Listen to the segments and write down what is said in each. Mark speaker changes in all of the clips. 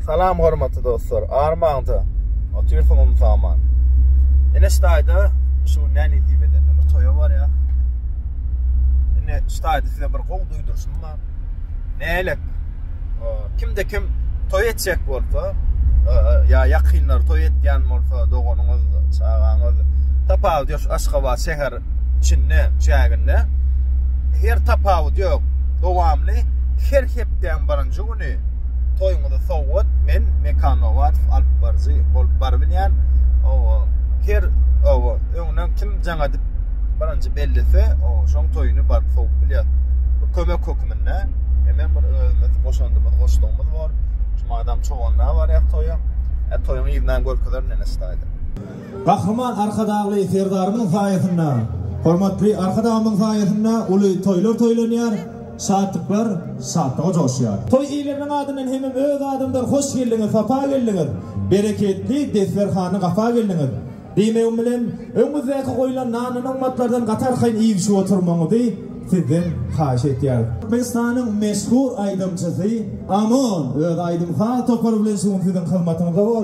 Speaker 1: Salam hormatly dostlar. Armaňda otyrsyň umsaman. Ene ştaýda şu gün näni diýip eden. Bir toýa barýar. Ene ştaýda size bir gowy duýduryşym bar. Nälik? Kimde kim toý etjek bolsa, ýa ýakynlar toý etýän bolsa, doganyňyz, çagaňyz, tapawut ýok, Aşgabat şäher içinde çäginde her tapawut ýok. Dowamly her hepdäň birinji güni toýuňyzy sowgat men Mekanowat alyp baryjy bolup bar bilýän. O her o öňden kim jaňadyp birinji bellese, o şoň toýuny baryp sowup bilýär. Kömek hökmünde hemen bir özümiz goşandymyz, goşdugymyz bor. Şu adam çoganda barýar toýa. E toýuň ýerinden görkezer nene staýda. Gahryman
Speaker 2: Arkadagly Serdarymyzyň saýasynda, hormatly Arkadagymyzyň saýasynda uly toýlar toýlanýar, şatlyklar şatlyga joşýar. Toý eýleminiň adyndan hemem öz adymdan hoş geldiňiz, sapa geldiňiz, bereketli desterhana gapa geldiňiz diýmegim bilen, öňüňizdäki goýlan nan-nygmatlardan gatarkaýyn iýgşip oturmagyňyzy sizden haýyş etýäris. Türkmenistanyň meşhur aýdymçysy Amon öz aýdym-saz topary bilen şu gün siziň hyzmatyňyzda bor.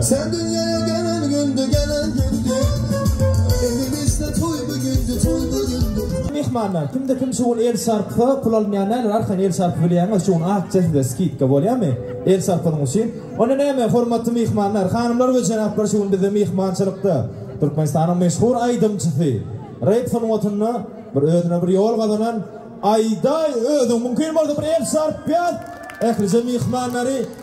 Speaker 3: Sen dünyaya gelen gündü gelen gündü Emin
Speaker 2: işte toy bu gündü toy bu gündü Mihmanlar, kimde kim şu gün el şarpy pul almaýan näler, arkan el şarpy bilýäňiz, şu gün akja size skidka bolýarmy? El şarpynyň üçin. Onda näme, hormatly mihmanlar, hanymlar we jenaplar şu gün bizde mihmançylykda Türkmenistanyň meşhur aýdymçysy, rep sungatynda bir özüne bir ýol gazanan Aýdaý özüň mümkin bolsa bir el şarp ber. Ählije mihmanlary